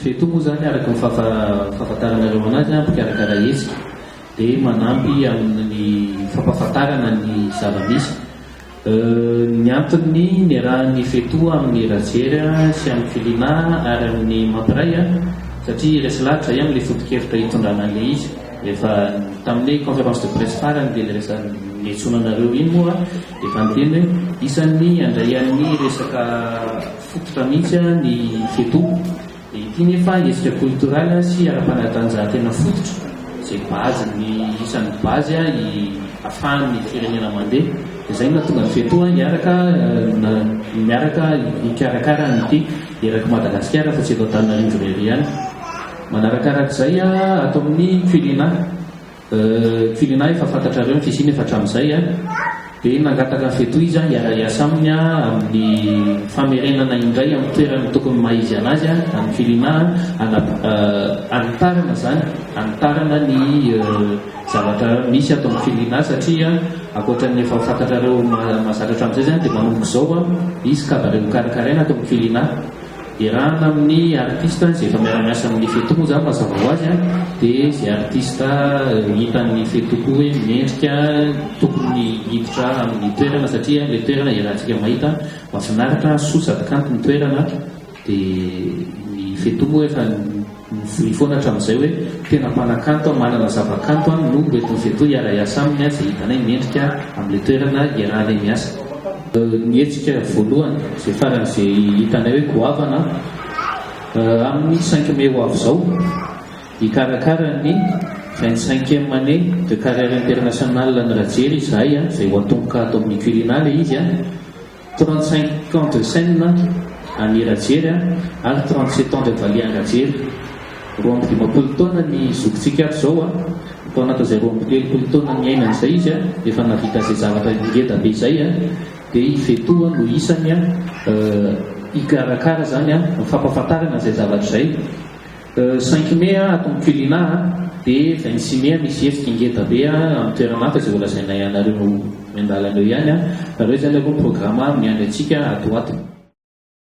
Veto moa izany araka ny fahafantaranareo anazy an, mpikarakara hetsika dia manampy amin'ny fampahafantarana ny zava-misy. Ny antony niarahan'ny Feto amin'ny Rajery sy amin'ny Filina ary amin'ny Mampiray an, satria hiresy lahatra izahay amin'ilay foto-kevitra hitondrana an'ilay izy. Efa tamin'ilay conférence de presse farany dia niresahana, niantsoana anareo iny moa dia efa niteny hoe isan'ny handray an'ny resaka. Fototra mihitsy ny fedo. Dia ity nefa hetsika culturel sy ara-panatanjahantena fototra izay base ny isan'ny base ahafahan'ny firenena mandeha. Dia izay no nahatonga ny fedo hiaraka miaraka hikarakara an'ity erak'i Madagasikara fa tsy eto Antananarivo irery ihany. Manarakarak'izay ato amin'ny Culina. Firenà efa fantatrareo ny fisiany efa hatramin'izay a! Dia nangataka ny fetohizan hiara-hiasa aminy aho amin'ny famerenana indray amin'ny toerany ny tokony maha-izy an'azy a! An'ny firenà a! Ana, hanitarana izany, hanitarana ny zavatra misy ato amin'ny firenà satria ankoatra ny efa fantatrareo ma, mahazatra hatramin'izay izany dia manomboka izao a, hisy kabary hokarakaraina ato amin'ny firenà. Iarahana amin'ny artista izay efa miara-miasa amin'ny Feto moa zany mazava ho azy an, dia izay artista hitan'ny Feto koa hoe mendrika tokony hiditra amin'ny toerana satria ilay toerana iarahantsika mahita mahafinaritra, soa sady kanto ny toerana dia ny Feto moa efa Mivoria foana hatramin'izay hoe tena mpanakanto aho, manana zavakanto aho no ho eto Iveto hiara-hiasa aminy izay hitanay mendrika amin'ilay toerana iarahanay miasa. Ny hetsika voalohany izay faran'izay hitanay hoe goavana amin'ny cinq mai ho avy izao, hikarakara ny vingt cinquième année de carrière internationale an'i Rajery izahay izay ho atomboka ato amin'ny Quirinal izy. Trente cinq ans de scène an'i Rajery a, ary trente sept ans de valiha an-dRajery. Roa amby dimampolo taona ny zokintsika ato izao a, tao anatin'izay roa amby telopolo taona niainany izay izy a, efa nahavita izay zavatra ngeda be izay a, dia i Vetoha no isany a, hikarakara izany a, fampahafantarana izay zavatra izay. Cinq mai ah ato mpilinà ah, de vingt six mai ah misy hetsika ngeda be ah amin'ny toerana hafa izay holazainay anareo miandalana eo ihany ah, nareo izany aloha miprograma amin'ny andry antsika ato ho ato.